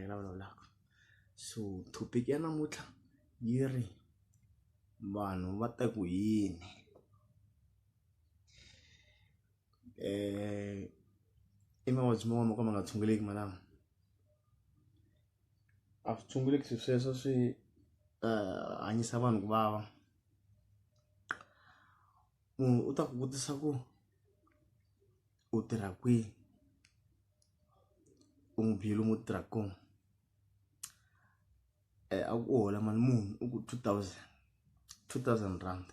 hi vulavulaka so topic ya namuntlha yi ri vanhu va ta ku yini um i mavabyi man'wana mo ka ma nga tshunguleki malama a swi tshunguleki swi sweswo swi um hanyisa vanhu ku vava munhu u ta ku vutisa ku. u tirha kwihi u n'wi byele lomu u tirhaka kona a ku u hola mali muni u ku two thousand two thousand rand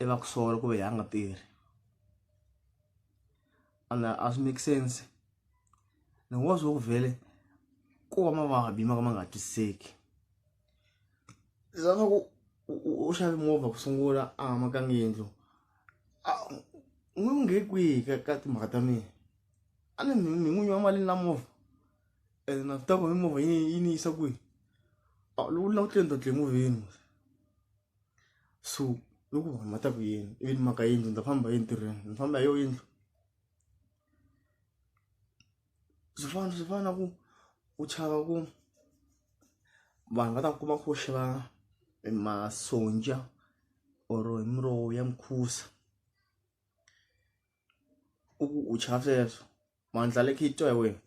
i va ku sola ku ve a nga tirhi and a swi make sense ni ngo swo ku vhele ku va mavabyi ma ka ma nga twisiseki. za swa ku u- u u xave movha ku sungula a hamakanga yindlu a u n'wi nghe kwihi ka ka timhaka ta mina a ni mi mi n'winyi wa mali na movha ene na swi tiva ku mi movha yi yi ni yisa kwihi a loko u lava ku tlenda tle movheni so loko vanhu va ta ku yini ivi ni maka yindlu ni ta famba hi ntirhweni ni famba hi yo yindlu swi fana swi fana na ku u chava ku vanhu va ta kuma ku xava masonja or hi muroho ya mukhusa u ku u chava sweswo mandla le khe twa hi wena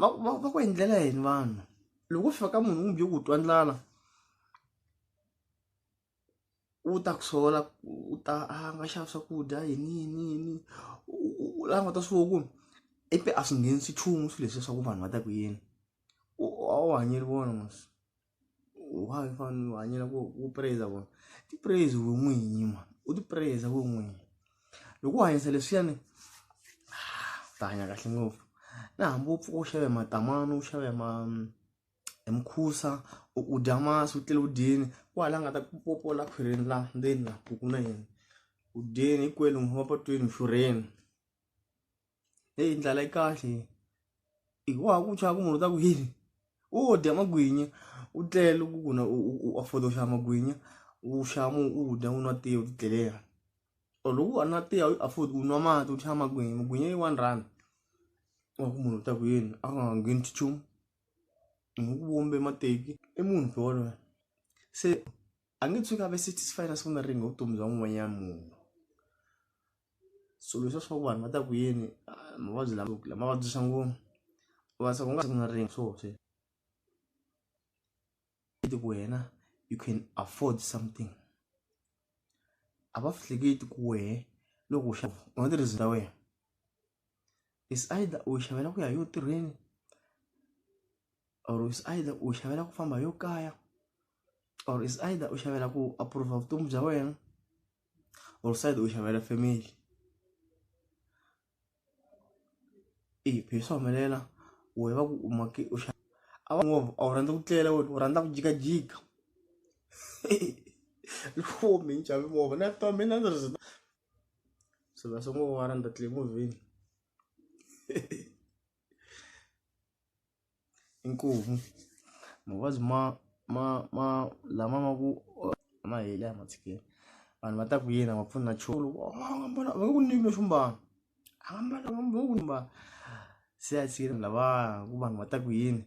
va va va ku endlela yini vanhu loko u fika ka munhu kumbe u twa ndlala. u ta ku sola u ta a nga xava swakudya yini yini yini u languta swo ku i te a swi nghenisi nchumu swilo leswiya swa ku vanhu va ta ku yini u a wu hanyeli vona mos why u fanele u hanyela ku u prez-a vona ti prez-i we n'winyi mhani u ti prez-a we n'winyi loko u hanyisa leswiyani u ta hanya kahle ngopfu na hambi u pfuka u xave matamani u xave ma. hi mukhusa u u dya masi u tlele u dyeni wa hala a nga ta ku popola khwirini la ndzeni la ku ku na yini u dyeni hinkwenu wa patwini xurheni heyi ndlala yi kahle i wa ha ku chava ku munhu u ta ku yini u dya magwinya u tlele ku ku na u afford u xava magwinya u xava u dya u nwa tiya u titlelela or loko u nwa tiya u afford u nwa mati u xava magwinya magwinya yi one rand wa ku munhu u ta ku yini a nga ngheni nchumu. hi ku vumbe mateki i munhu loyi se a nge tshuki a ve satisfied a sungula ringe vutomi bya n'wanyana munhu swilo leswiya swaku vanhu va ta ku yini mavabyi lama lama vabyisa ngopfu u nga se u nga sungula ringe swona. hleketi ku wena you can afford something a va hleketi ku wehe loko u xava u nga tirhisi ta wena is either u xavela ku ya yo tirheni or is either u xavela ku famba yo kaya or is either u xavela ku approva vutomi bya wena or side u xavela family i phiri swa humelela wehe va ku u make u xa a va movha a wu rhandza ku tlela wena u rhandza ku jikajika loko mi ni xave movha na twa mina ndzi ri se va sungula va rhandza tliliniki movheni. inkomu mavabyi ma ma ma lama ma ku ma heli a ma tshikeli vanhu va ta ku yini a va pfuni na nchumu loko a nga mbala a va nge ku nyiki lexo mbala a nga mbala va nge ku mbala se a tshikile lavaya ku vanhu va ta ku yini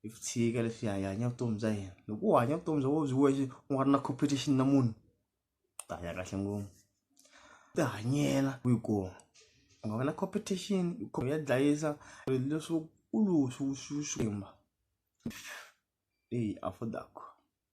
hi swi tshika leswi hi hanya vutomi bya hina loko u hanya vutomi bya wena u byi wexe u nga ri na competition na munhu ta hanya kahle ngopfu ti hanyela ku yi kuma u nga va na competition u ya dlayisa leswo u lowu swi swi swi eyi a .